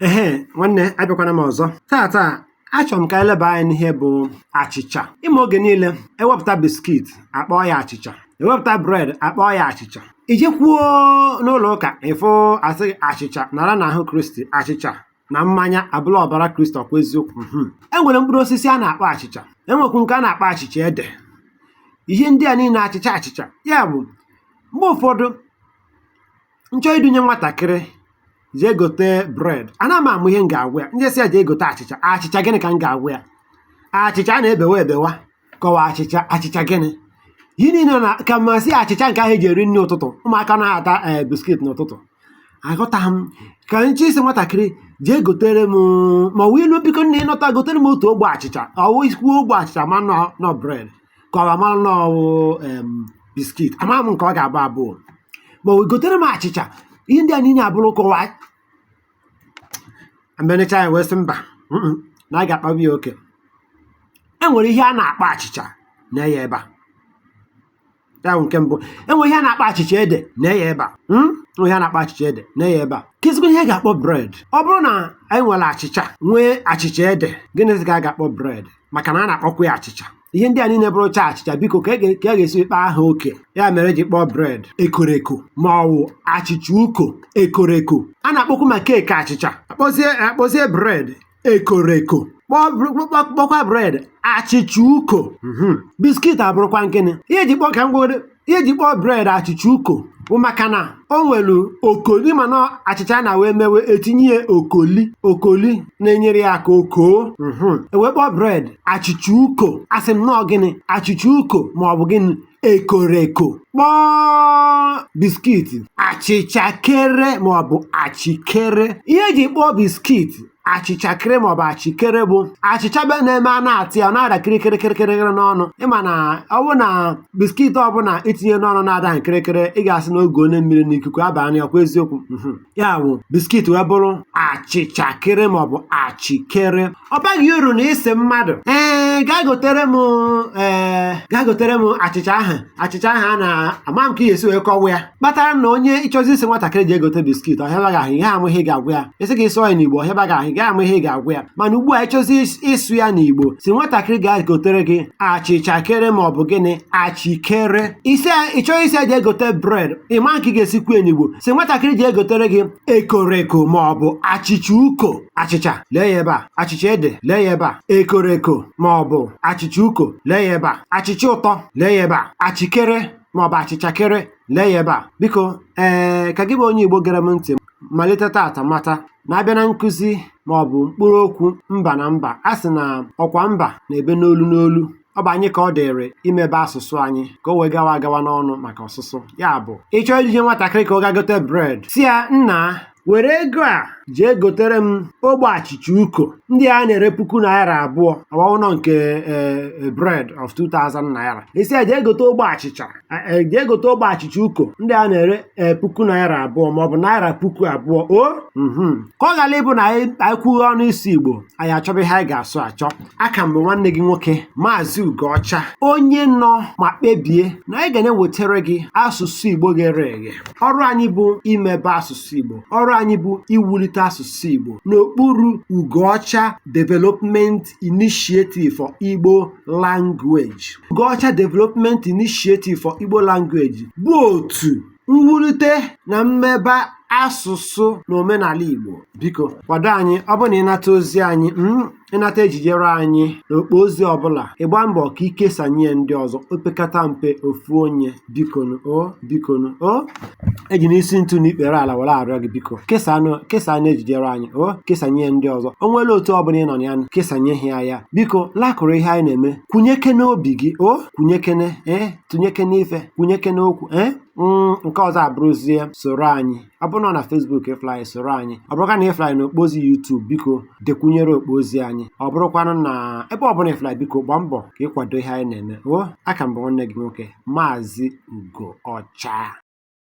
ehe nwanne abịakwana m ọzọ taata achọrọ m ka e leba anya n'ihe bụ achịcha ịma oge niile ewepụta biskit akpọọ ya achịcha ewepụta bred akpọọ ya achịcha i jekwuo n'ụlọ ụka ị fụ a sị gị achịcha nara na ahụ kristi achịcha na mmanya abụla ọbara kristi ọkwa eziokwu mhm. e nwere mkpụrụ osisi a na-akpọ achịcha enwekwu nke a na-akpọ achịcha ede ihe ndị a niile achịcha achịcha ya bụ mgbe ụfọdụ m chọọ idunye nwatakịrị jee gote bred ana m ama ihe m ga-agwa ya m je-asị ya jee gote achịcha achịcha gịnị ka m ga-agwa ya achịcha a na-ebewa ebewa ka ọ wụ achịcha achịcha gịnị ihe niile na ka m sị achịcha nke ahụ eji eri nri ụtụtụ ụmụaka na-ata ee biskit n'ụtụtụ aghọtaghị m ka m je-asị nwatakịrị jee gotere m ma ọ wụ i luo biko nna ị nọta gotere m otu ogbe achịcha ọ wụ i kwuo ogbe achịcha ma na ọ bred ka ọ mara na ọ wụ em biskit ama m nke ọ ga-abụ abụọ ma o gotere m achịcha ihe ndị a niile abụrụ kọwaa m elechaa ya wee sị mba mm-mm, na a ga-akpaba ya oke e nwere ihe a na-akpọ achịcha nee ya ebe a ya bụ nke mbụ e nwere ihe a na-akpọ achịcha ede nee ya ebe a mm? E nwere ihe a na-akpọ achịcha ede nee ya ebe a keezikwa ihe a ga-akpọ bred ọ bụrụ na anyị nwere achịcha nwee achịcha ede gịnịzi ka a ga-akpọ bred maka na a na-akpọkwa ya achịcha ihe ndị a niile bụrụcha achịcha biko ka e ga- ka a ga-esi kpaa ha oke ya mere eji kpọọ bred ekoreko ma ọ wụ achịcha uko ekoreko a na-akpọkwu ma keeki achịcha akpọzie akpọzie bred ekoreko kpọọ br- kpọ- kpọkwa bred achịcha uko Mhm. biskit abụrụkwanụ gịnị ihe eji kpọọ ka m gwere ihe eji kpọọ bred achịcha uko bụ maka na o nwere okoli mana achịcha na wee mewe etinye ya okoli okoli na-enyere ya aka o koo mhm. ewee kpọọ bred achịcha uko asị m na ọ gịnị achịcha uko ma ọ bụ gịnị ekoreko kpọọ biskiti achịcha kere ma ọ bụ achịkere ihe eji kpọọ biskiti achịcha kere maọbụ achịkere bụ achịcha be na-eme a na-ata ya ọ na-ada kirikiri kirikiri n'ọnụ ịma na ọ bụ na biskit ọbụla itinye n'ọnụ na-ada kirikiri ị ga-asị na oge onye mmiri na ikuku abanye ọkwa eziokwu mhm. ya bụ biskit wee bụrụ achịcha kere maọbụ achịkere ọ baghị uru na ị sị mmadụ ee gaa gotere m ee gaa gotere m achịcha ahụ achịcha ahụ a na-ama m ka ị ga-esi wee kọwa ya kpatara na onye ị chọzie ịsị nwatakịrị jee gote biskit ọ hịaba gị ahụ ị ya-ama ihe ị ga-agwa ya a sị gị sụọ ya n'igbo ọ hịaba gị ahụ ị gaghị ama ihe ị ga-agwa ya mana ugbu a ị chọzie ịsụ ya n'igbo sị nwatakịrị gaa gotere gị achịcha kere ma ọ bụ gịnị achịkere ị sị ị chọọ ịsị ya jee gote bred ị ma nke ị ga-esi kwuo ya n'igbo sị nwatakịrị jee gotere gị ekoreko ma ọ bụ achịcha uko achịcha lee ya ebe a achịcha ede lee ya ebe a ekoreko ma ọ bụ achịcha uko lee ya ebe a achịcha ụtọ lee ya ebe a achịkere ma ọ bụ achịchakere lee ya ebe a biko ee ka gị bụ onye Igbo gere m ntị malite tata mata na a bịa na nkụzi ma ọ bụ mkpụrụ okwu mba na mba a sị na ọkwa mba na-ebe n'olu n'olu ọ bụ anyị ka ọ dịrị imebe asụsụ anyị ka o wee gawa agawa n'ọnụ maka ọsụsụ ya bụ ị chọọ izije nwatakịrị ka ọ gaa gote bred sị ya nna were ego a jee gotere m ogbe achịcha uko ndị a na-ere puku naira abụọ ọ wụnọ nke ee bred of 2000 naira ị sị ya jee gote ogbe achịcha e, jee gote ogbe achịcha uko ndị a na-ere ee puku naira abụọ maọbụ naira puku abụọ o mhm. ka ọ ghara ịbụ na anyị anyị kwughe ọnụ ịsụ igbo anyị achọba ihe anyị ga-asụ achọ a ka m bụ nwanne gị nwoke maazị ugoọcha onye nọ ma kpebie na anyị ga na-ewetara gị asụsụ igbo ghere eghe ọrụ anyị bụ imebe asụsụ igbo ọrụ anyị bụ iwulite asụsụ igbo n'okpuru ugoọcha development initiative for igbo language ugoọcha development initiative for igbo language bụ otu mwulite na mmebe asụsụ na omenala igbo biko kwado anyị ọ bụrụ na ị nata ozi anyị mm, ị nata ejijere anyị n'okpo ozi ọbụla ị gbaa mbọ ka i kesanye ya ndị ọzọ opekata mpe ofu onye bikonu o bikonu o eji m isi ntụ na ikpere ala were arịọ gị biko kesanụ kesaanụ ejijere anyị o kesanye ya ndị ọzọ o nwere otu ọbụla ị nọ na ya nụ, kesanye ha ya biko lakụrụ ihe anyị na-eme kwunyekene obi gị o kwunyekene ee tụnyekene ife kwunyekene okwu ee Mm, nke ọzọ abụrụzie soro anyị ọ bụrụ na Facebook ị fụla anyị soro anyị ọ bụrụkwa na ị fụla anyị n'okpo ozi YouTube biko dekwunyere okpo ozi anyị ọ bụrụkwanụ na ebe ọ bụla ị fụla anyị, biko gbaa mbọ ka ị kwado ihe anyị na-eme o a ka m bụ nwanne gị nwoke maazị Ugo Ọcha